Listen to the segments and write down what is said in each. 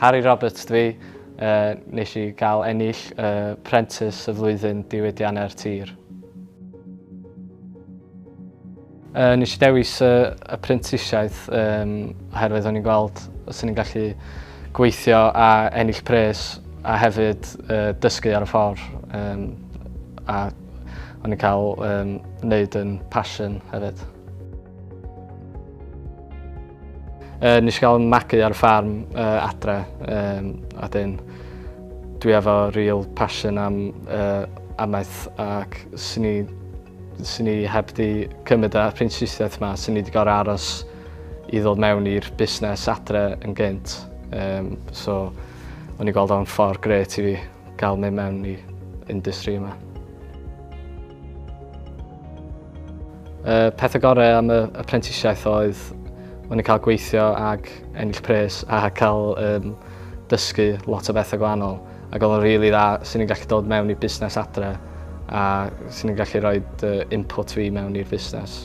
Harry Roberts dwi, uh, nes i gael ennill uh, Prentice y flwyddyn diwydiannau'r tir. Uh, nes i dewis uh, y prentisiaeth um, oherwydd o'n i'n gweld os o'n i'n gallu gweithio a ennill pres a hefyd uh, dysgu ar y ffordd um, a O'n i'n cael um, wneud yn passion hefyd. Uh, nes i gael magu ar y ffarm uh, adre, um, a dyn dwi efo real passion am uh, amaeth ac sy'n ni, sy ni heb di cymryd y apprentiaeth yma, sy'n ni wedi gorau aros i ddod mewn i'r busnes adre yn gynt. Um, so, o'n i'n gweld o'n ffordd gret i fi. gael mynd mewn i industry yma. Y pethau gorau am y apprentisiaeth oedd o'n i'n cael gweithio ac ennill pres a cael um, dysgu lot o bethau gwahanol. Ac oedd o'n rili really dda sy'n ni'n gallu dod mewn i busnes adre a sy'n ni'n gallu rhoi uh, input fi mewn i'r busnes.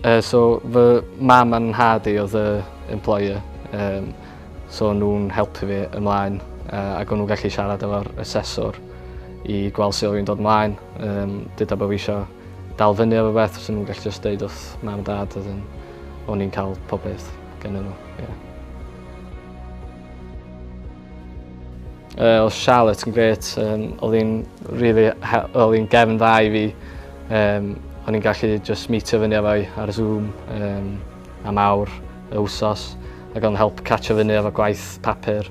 Uh, so fy mam a'n nhad i oedd y employer. Um, so o'n nhw'n helpu fi ymlaen yy ag o'n nhw'n gallu siarad efo'r aseswr i gweld su' o' fi'n dod mlaen yym deda bo' fi isio dal fyny efo rwbeth fyswn nw'n gallu jyst deud wrth mam a dad wedyn o'n i'n ca'l pob peth gennyn n'w ie. Yy odd Charlotte yn grêt yym odd 'i'n rili he- odd 'i'n gefn dda i fi yym o'n i'n gallu jyst mîtio fyny efo 'i ar y Zoom yym am awr y wsos ag o'n help catch o fyny efo gwaith papur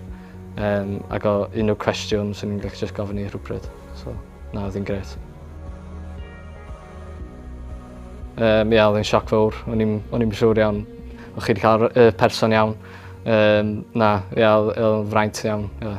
um, ag o unrhyw cwestiwn sy'n ni'n gallu just gofyn i rhywbryd. So, na, oedd hi'n gret. Um, ia, oedd hi'n sioc fawr. O'n i'n siŵr iawn o chi wedi cael y person iawn. Um, na, ia, oedd hi'n fraint iawn. Ia.